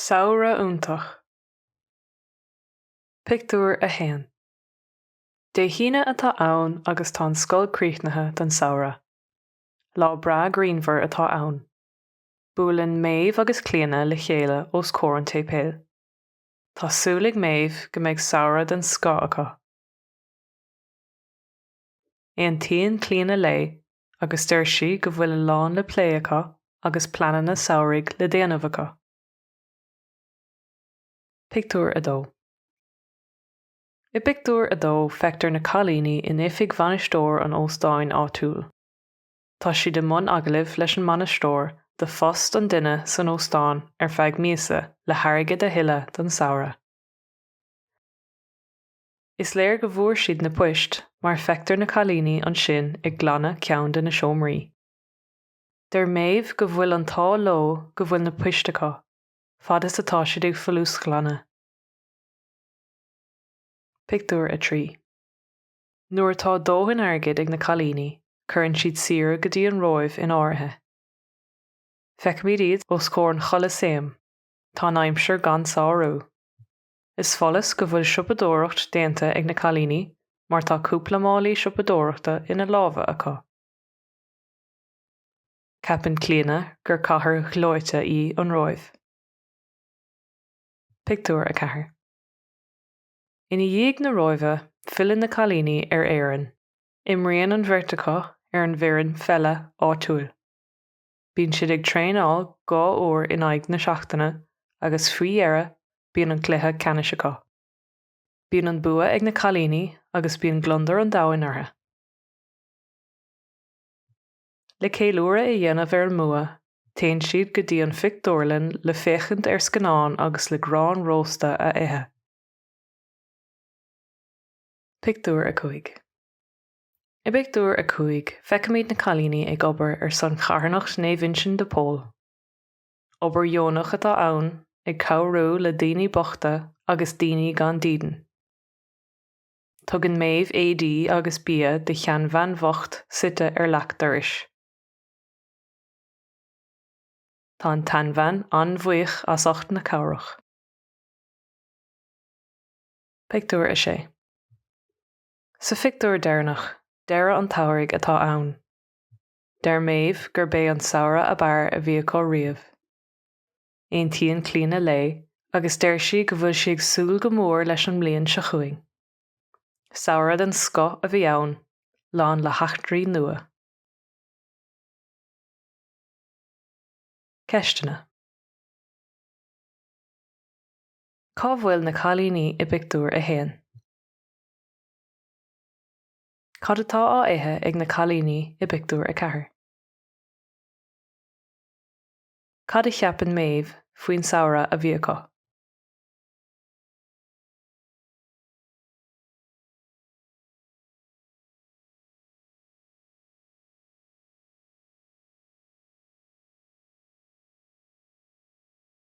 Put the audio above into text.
Samhradh iontach. Pictiúr 1 Dé hAoine atá ann agus tá an scoil críochnaithe don samhradh. Lá breá grianmhar atá ann. Buaileann Méabh agus Clíona le chéile os comhair an tséipéil. Tá súil ag Méabh go mbeidh samhradh den scoth acu. Aontaíonn Clíona léi agus deir sí go bhfuil a lán le plé acu agus pleananna samhraidh le déanamh acu. Pictiúr 2 I bpictiúr a dó feictear na cailíní in oifig bhainisteoir an óstáin áitiúil. Tá siad i mbun agallaimh leis an mbainisteoir do phost an duine san óstán ar feadh míosa le hairgead a thuilleadh don samhradh. Is léir go bhfuair siad na poist mar feictear na cailíní ansin ag glanadh ceann de na seomraí. Deir Méabh go bhfuil an t-ádh leo go bhfuil na poist acu, fad is atá siad ag folúsghlanadh. Pictiúr 3 Nuair atá dóthain airgid ag na cailíní cuireann siad saoire go dtí an Róimh in áirithe. Feicimid iad os comhair an Cholasaeim, tá an aimsir gan sárú. Is follas go bhfuil siopadóireacht déanta ag na cailíní mar tá cúpla málaí siopadóireachta ina lámha acu. Ceapann Clíona gur cathair ghleoite í an Róimh. Pictiúr 4 Ina dhiaidh na Róimhe, filleann na cailíní ar Éirinn. Imríonn an bheirt acu ar an bhfoireann pheile áitiúil. Bíonn siad ag traenáil dhá uair in aghaidh na seachtaine agus faoi dheireadh bíonn an cluiche ceannais acu. Bíonn an bua ag na cailíní agus bíonn gliondar an domhain orthu. Le ceiliúradh a dhéanamh ar an mbua, téann siad go dtí an phictiúrlann le féachaint ar scannán agus le grán rósta a ithe. Pictiúr 5 I bpictiúr a cúig, feicimid na cailíní ag obair ar son charthanacht Naomh Uinseann de Pól. Obair dheonach atá ann, ag cabhrú le daoine bochta agus daoine gan dídean. Tugann Méabh éadaí agus bia do sheanbhean bhocht suite ar leac dorais. Tá an tseanbhean an-bhuíoch astu as ucht na cabhrach. Pictiúr 6 Sa phictiúr deireanach, deireadh an tsamhraidh atá ann. Deir Méabh gurb é an samhradh ab fhearr a bhí acu riamh. Aontaíonn Clíodhna léi agus deir sí go bhfuil sí ag súil go mór leis an mbliain seo chugainn. Samhradh den scoth a bhí ann, lán le heachtraí nua. Ceisteanna. Cá bhfuil na cailíní i bpictiúr a haon? Cad atá á ithe ag na cailíní i bpictiúr a ceathair? Cad a cheapann Méabh faoin samhradh a bhí acu?